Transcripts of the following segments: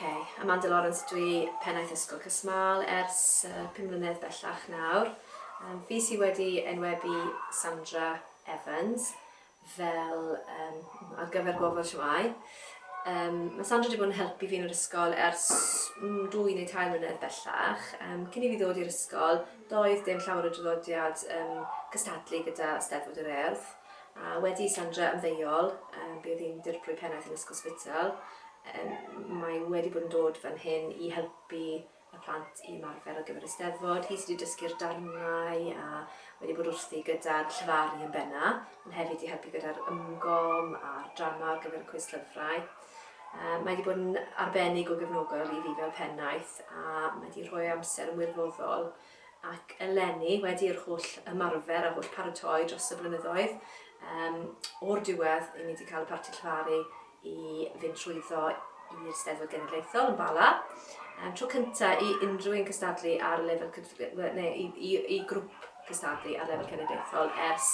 Oce, Amanda Lawrence dwi, Pennaeth Ysgol Casmâl ers uh, 5 mlynedd bellach nawr. Um, fi sydd wedi enwebu Sandra Evans fel um, ar gyfer gofod siwai. Um, mae Sandra wedi bod yn helpu fi yn yr ysgol ers mm, dwy neu tair mlynedd bellach. Um, cyn i fi ddod i'r ysgol, doedd dim llawer o draddodiad um, cystadlu gyda Steddfod yr Erdd. A wedi i Sandra ymddeol, bydd hi'n Dirprwy Pennaeth yn Ysgol Spital. Mae wedi bod yn dod fan hyn i helpu y plant i ymarfer ar gyfer y Steddfod. Hi sydd wedi dysgu'r darnau a wedi bod wrthi gyda'r llefaru yn benna, ond hefyd i helpu gyda'r ymgom a'r drama ar gyfer y cwis llyfrau. Mae wedi bod yn arbennig o gefnogol i fi fel pennaeth a mae wedi rhoi amser yn wirfoddol ac eleni, wedi yr holl ymarfer a holl paratoi dros y blynyddoedd, yym, o'r diwedd, 'yn ni 'di cael y Parti Llefaru i fynd trwyddo i'r Steddfod Genedlaethol yn Bala. Yym, tro cynta' i unrhyw un cystadlu ar lefel cydf- we- ne' i i i grwp cystadlu ar lefel cenedlaethol ers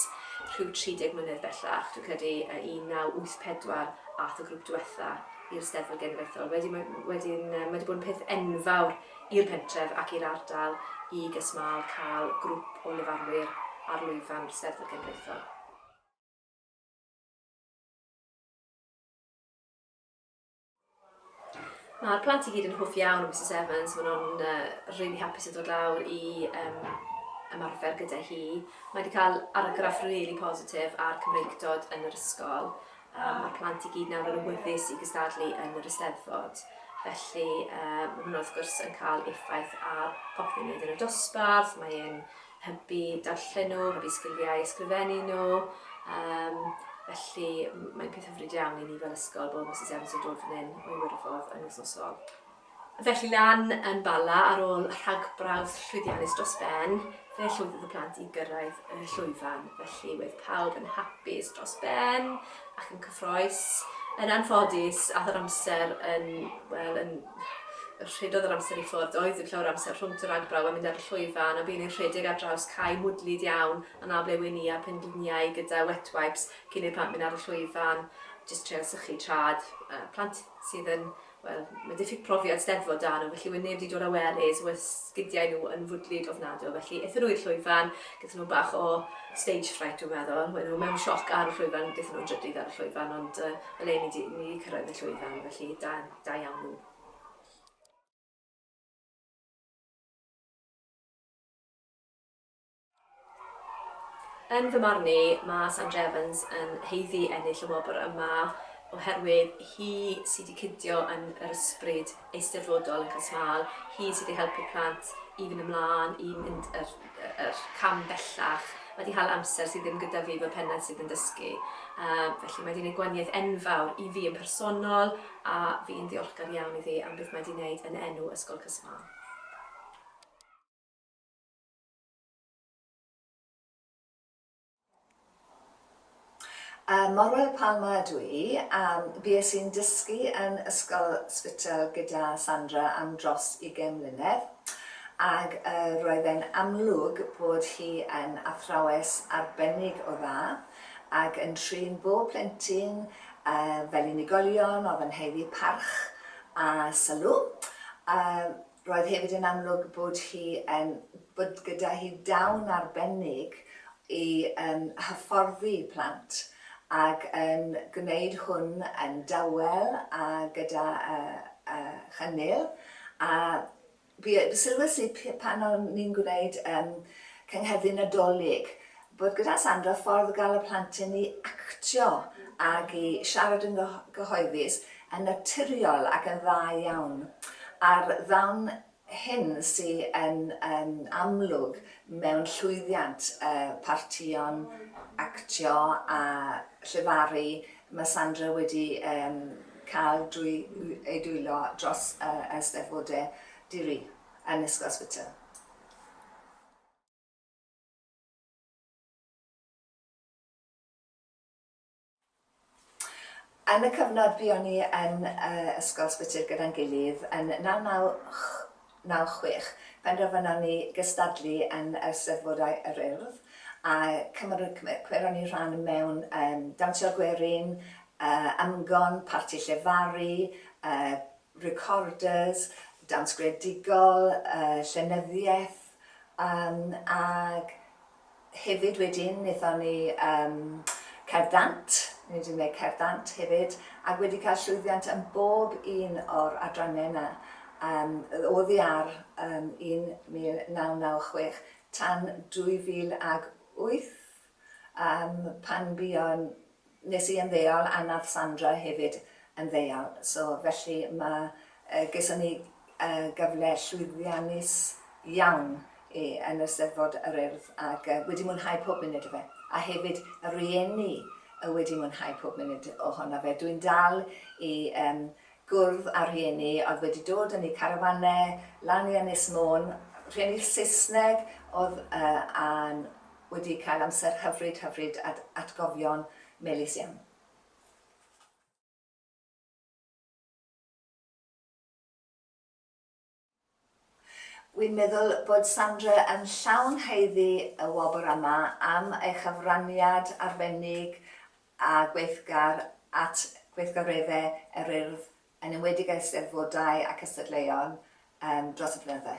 rhyw 30 mlynedd bellach, dwi'n credu yy 1984 a'th y grwp dwetha' i'r Steddfod Genedlaethol. Wedyn ma' wedyn yy ma' 'di bod yn peth enfawr i'r pentref ac i'r ardal i GasMaal cael grwp o lefarwyr ar lwyfan Steddfod Genedlaethol. Mae'r plant i gyd yn hoff iawn o Misus Evans, maen nhw'n uh, rili hapus i ddod lawr i um, ymarfer gyda hi. Mae wedi cael argraff rili really positif ar Cymreictod yn yr ysgol Yy ma'r plant i gyd nawr yn awyddus i gystadlu yn yr Eisteddfod, felly yy ma' hwnna wrth gwrs yn ca'l effaith ar popeth ni'n neud yn y dosbarth, mae e'n hybu darllen nhw, hybu sgiliau ysgrifennu nhw, yym felly m- mae'n peth hyfryd iawn i ni fel ysgol bod Misus Evans yn dod fan hyn o'i wyrfodd yn wythnosol. Felly lan yn Bala ar ôl rhagbrawf llwyddiannus dros ben, fe llwyddodd y plant i gyrraedd y llwyfan. Felly wedd pawb yn hapus dros ben ac yn cyffroes. Yn anffodus, ath yr amser yn, wel, yn rhedodd yr amser i ffwrdd, oedd ddim llawer amser rhwng y rhagbrawf a mynd ar y llwyfan, a bu'n ein rhedeg ar draws cae mwdlyd iawn yn A Ble Wen i a phengliniau gyda wet wipes cyn i'r plant mynd ar y llwyfan, jyst treial sychu trad plant sydd yn Wel, mae'n diffyg profiad 'Steddfod 'da nhw, felly wedd neb 'di dod â wellies, wedd sgidiau nhw yn fwdlyd ofnadw, felly ethon nhw i'r llwyfan, gethon nhw bach o stage fright dwi'n meddwl, wedd nhw mewn sioc ar y llwyfan, gethon nhw'n drydydd ar y llwyfan, ond yy o leia ni 'di ni 'di cyrraedd y llwyfan, felly da da iawn nhw. Yn fy marn i, mae Sandra Evans yn haeddu ennill y wobr yma oherwydd hi sydd wedi cydio yn yr ysbryd eisteddfodol yn Cas Mâl, hi sydd wedi helpu'r plant i fynd ymlaen, i mynd yr, yr cam bellach. Mae wedi hala amser sydd ddim gyda fi fel pennaeth sydd yn dysgu. Um, felly mae wedi gwneud gwaniaeth enfawr i fi yn personol a fi'n ddiolchgar iawn iddi am beth mae wedi gwneud yn enw Ysgol Cas Mâl. Ym Morwell Palma ydw i a bues i'n dysgu yn Ysgol Spital gyda Sandra am dros ugain mlynedd ac roedd e'n amlwg bod hi yn athrawes arbennig o dda ac yn trin bob plentyn fel unigolion, oedd yn haeddu parch a sylw. Roedd hefyd yn amlwg bod hi yn, bod gyda hi dawn arbennig i yn hyfforddi plant ac yn gwneud hwn yn dawel a gyda chynnil a sylwes i pan o'n ni'n gwneud Cynghedlu Nadolig Bod gyda Sandra ffordd o gael y plentyn i actio ac i siarad yn gyhoeddus yn naturiol ac yn dda iawn. A'r ddawn hyn sy yn amlwg mewn llwyddiant y partïon actio a llefaru mae Sandra wedi cael drwy ei dwylo dros y Eisteddfodau di-ri yn Ysgol Ysbyty. Yn y cyfnod buon ni yn Ysgol Sbytyr gyda'n gilydd yn 1996, penderfynon ni gystadlu yn yr Eisteddfodau yr Urdd a cymeron ni rhan mewn Dawnsio Gwerin, Ymgon, Parti Llefaru, Recorders, Dawns Greadigol, Llenyddiaeth, Ac hefyd wedyn wnaethon ni Cerddant, ni wedi gwneud Cerddant hefyd, ac wedi cael llwyddiant yn bob un o'r adrannau yna oddi ar 1996 tan 2008 pan fuon Nes i ymddeol a nath Sandra hefyd ymddeol so felly ma yy geson ni yy gyfle llwyddiannus iawn i yn yr Steddfod yr Urdd ag yy wedi mwynhau pob munud o fe a hefyd y rhieni yy wedi mwynhau pob munud ohona fe. Dwi'n dal i yym gwrdd â rhieni o'dd wedi dod yn eu carafanau lan i Ynys Môn, rhieni Saesneg o'dd yy a'n wedi cael amser hyfryd hyfryd ad atgofion melys iawn. Wi'n meddwl bod Sandra yn llawn haeddu y wobr yma am ei chyfraniad arbennig a gweithgar at gweithgaredde yr Urdd yn enwedig yr Eisteddfodau a cystadleuon dros y blynydde.